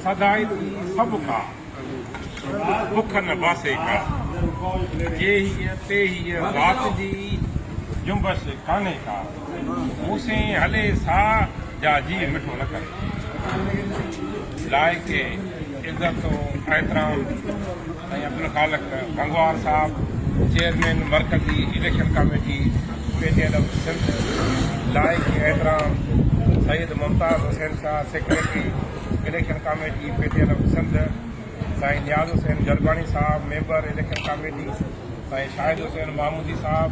سدائين ٿي سڀ ڪا، بک نه باسي ڪا، جيهيء تيهيء ذات جي، جنبش ڪانهي ڪا، مون سين هلي سا، جا جي مٺو نه ڪري، لائق عزت و احترام. ۽ عبدالخالق گنگوار صاحب چيئرمين مرڪزي election committee P T L Sindh, لائق احترام Syed Mumtaz Hussain Shah secretary election committee P T L Sindh, سائين نياز حسين جرڳاڻي صاحب ميمبر اليڪشن ڪاميٽي، سائين شاهد حسين محمودي صاحب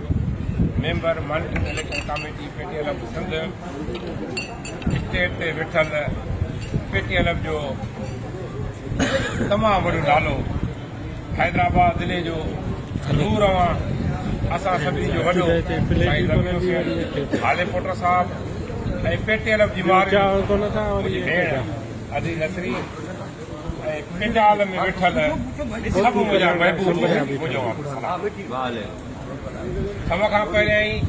member monitoring election committee P T L Sindh, stage تي ويٺل پي ٽي ايل ايف جو تمام وڏو نالو حيدرآباد ضلعي جو نور اوهان اسان سڀني جو وڏو سائين رميو حسين هالي پوٽر صاحب ۽ پي ٽي ايل ايف جي مارئي منهنجي ڀيڻ ادي نصري ۽ پنڊال ۾ ويٺل سڀ منهنجا محبوب منهنجو سڀ کان پهريائين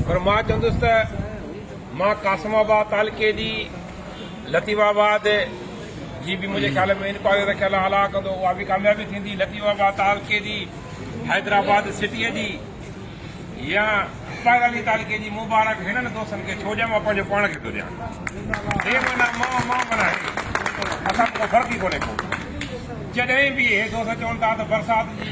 پر مان چوندس ته مان قاسم آباد تعلقي جي لطيف آباد جي به منهنجي خيال ۾ انڪوائري رکيل آ الاء ڪندو اها به ڪاميابي ٿيندي لطيف آباد تعلقي جي حيدرآباد سٽيء جي يا اسماعيل علي تعلقي جي مبارڪ هنن دوستن کي ڇو ڏيان مان پنهنجو پاڻ کي ٿو ڏيان هي مانا مان مان مانا اسان کو فرق ئي ڪونهي ڪو جڏهن به هي دوست چون ٿا ته برسات جي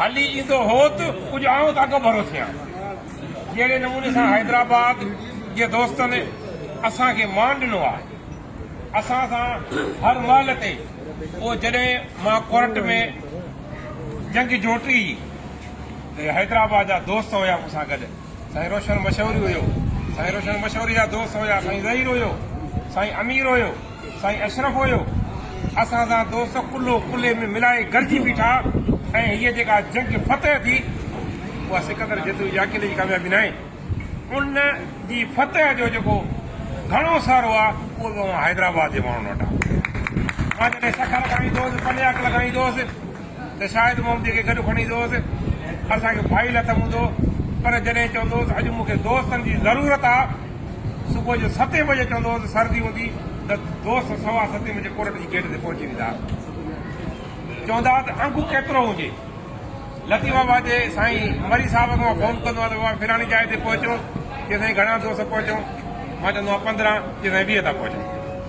هلي ايندو هو ته ڪجهه آئون ته اڳڀرو ٿيان. جهڙي نموني سان حيدرآباد جي دوستن اسان کي مان ڏنو آهي، اسان سان هر مهل تي پوء جڏهن مان ڪورٽ ۾ جنگ جوٽي هئي ته حيدرآباد جا دوست هيا مون سان گڏ، سائين روشن مشوري هيو، سائين روشن مشوري جا دوست هيا سائين ظهير هيو، سائين امير هيو. سائين اشرف هيو اسان سان دوست ڪلهو ڪلهي ۾ ملائي گڏجي بيٺا ۽ هيء جيڪا جنگ فتح ٿي اها سڪندر جتوئي جي اڪيلي جي ڪاميابي ناهي ان جي فتح جو جيڪو گهڻو سهرو آهي اهو به اوهان حيدرآباد جي ماڻهن وٽ آهي مان جڏهن سکر کائيندوس پنياڪ لڳائيندوس ته شايد محمدي کي گڏ کڻي ايندو هوس ۽ اسان کي ڀائي لٿ هوندو پر جڏهن چوندو هوس اڄ مون کي دوستن جي ضرورت آ صبح جو ستين بجي چوندو هوس سردي هوندي ته دوست سوا ستين بجي ڪورٽ جي گيٽ تي پهچي ويندا ها چوندا ها ته انگو ڪيترو هجي لطيف آباد جي سائين مري صاحب کي مان فون ڪندو آهيان ته بابا فلاني جاء تي پهچو چئي سائين گهڻا دوست پهچو مان چوندو آهيان پندرهن چئي سائين ويهه ٿا پهچون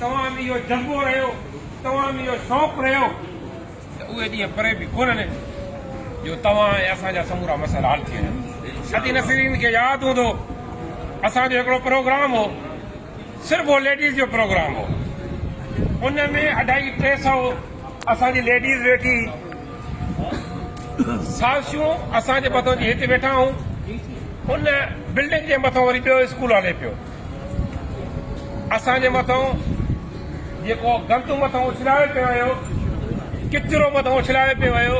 توهان ۾ اهو جذبو رهيو، توهان ۾ اهو شوق رهيو ته اهي ڏينهن پري به ڪونه آهن جو توهان ۽ اسان جا سمورا مسئلا حل ٿي وڃن. سدي نسرين کي ياد هوندو اسان جو هڪڙو پروگرام هو صرف اهو ليڊيز جو پروگرام هو ان ۾ اڍائي ٽي سئو اسان جي ليڊيز ويٺي سازشون اسان جي مٿو جي هت ويٺا هون ان بلڊنگ جي مٿو وري ٻيو اسڪول هلي پيو. اسان جي مٿان جيڪو گند مٿان اڇلايو پيو ويو ڪچرو مٿان اڇلايو پيو ويو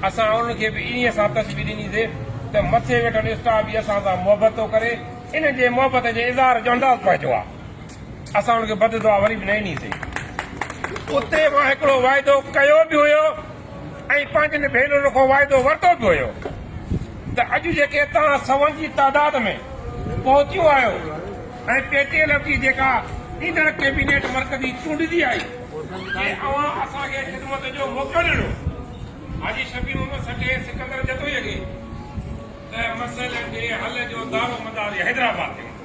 اسان ان کي به انهي سان تشبيهه ڏنيسي ته مٿي ويٺل اسٽاف به اسان سان محبت ٿو ڪري ان جي محبت جي اظهار جو انداز پنهنجو آ اسان ان کي بد دعا وري به نه ڏنيسي اتي مان هڪڙو واعدو ڪيو به هيو ۽ پنهنجن ڀينرن کان وعدو ورتو به هيو ته اڄ جيڪي توهان سون جي تعداد ۾ پهتيون آهيو ۽ پي ٽي ايل ايف جي جيڪا ايندڙ ڪيبينيٽ مرڪزي چونڊجي آئي جي اوهان اسان کي خدمت جو موقعو ڏنو حاجي شفيع محمد سٽي سڪندر جتوئي کي ته مسئلن جي حل جو دارو مدار حيدرآباد تي هوندو.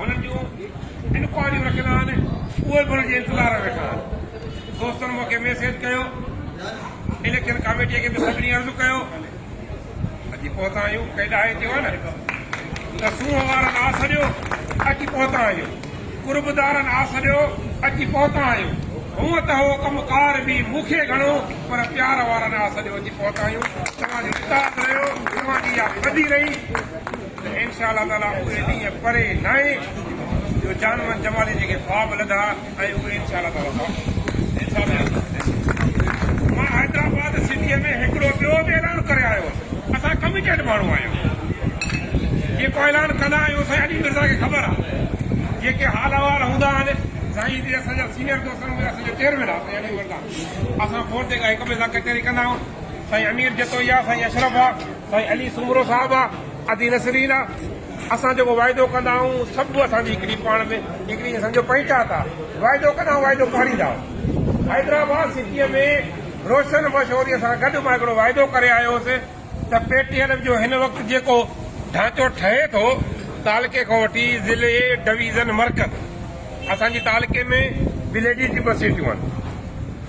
هنن جون انڪوائريون رکيل آهن اهي به هنن جي انتظار ۾ ويٺا آهن دوستن مون کي ميسيج ڪيو اليڪشن ڪاميٽي کي به سڀني عرض ڪيو اچي پهتا آهيون ڪيڏا آهي چيو آهي نه ته سونهن وارن آ سڏيو اچي پهتا آهيون قربدارن آ سڏيو اچي پهتا آهيون هونء ته هو ڪم ڪار به مون کي گهڻو پر پيار وارن آ سڏيو اچي پهتا آهيون توهان جو اتحاد رهيو توهان جي اها ٻڌي رهي ته انشاء الله تعاليٰ اهو ڏينهن پري ناهي جو جان من جمالي جيڪي خواب لڌا ۽ اهي انشاء الله تعاليٰ ٿا مان حيدرآباد سٽيء ۾ هڪڙو ٻيو به اعلان ڪري آيو هوس اسان ڪميٽيڊ ماڻهو آهيون جيڪو اعلان ڪندا آهيون سائين علي مرزا کي خبر آهي جيڪي حال احوال هوندا آهن سائين جي اسان جا سينيئر دوست آهن اسان جو چيئرمين آهي سائين علي مرزا اسان فون تي هڪ ٻئي سان ڪچهري ڪندا آهيون سائين امير جتوئي آهي سائين اشرف آهي سائين علي سومرو صاحب ادي نسرين اسان جيڪو وعدو ڪندا آهيون سڀ اسان جي هڪڙي پاڻ ۾ هڪڙي اسان جو پنهچا ٿا وعدو ڪندا آهيون وعدو پاڙيندا حيدرآباد سٽي ۾ روشن مشوري سان گڏ مان هڪڙو وعدو ڪري آيو هوس ته پي ٽي ايل جو هن وقت جيڪو ڍانچو ٺهي ٿو تعلقي کان وٺي ضلعي ڊويزن مرڪز اسان جي تعلقي ۾ وليجز جي ٻه سيٽيون آهن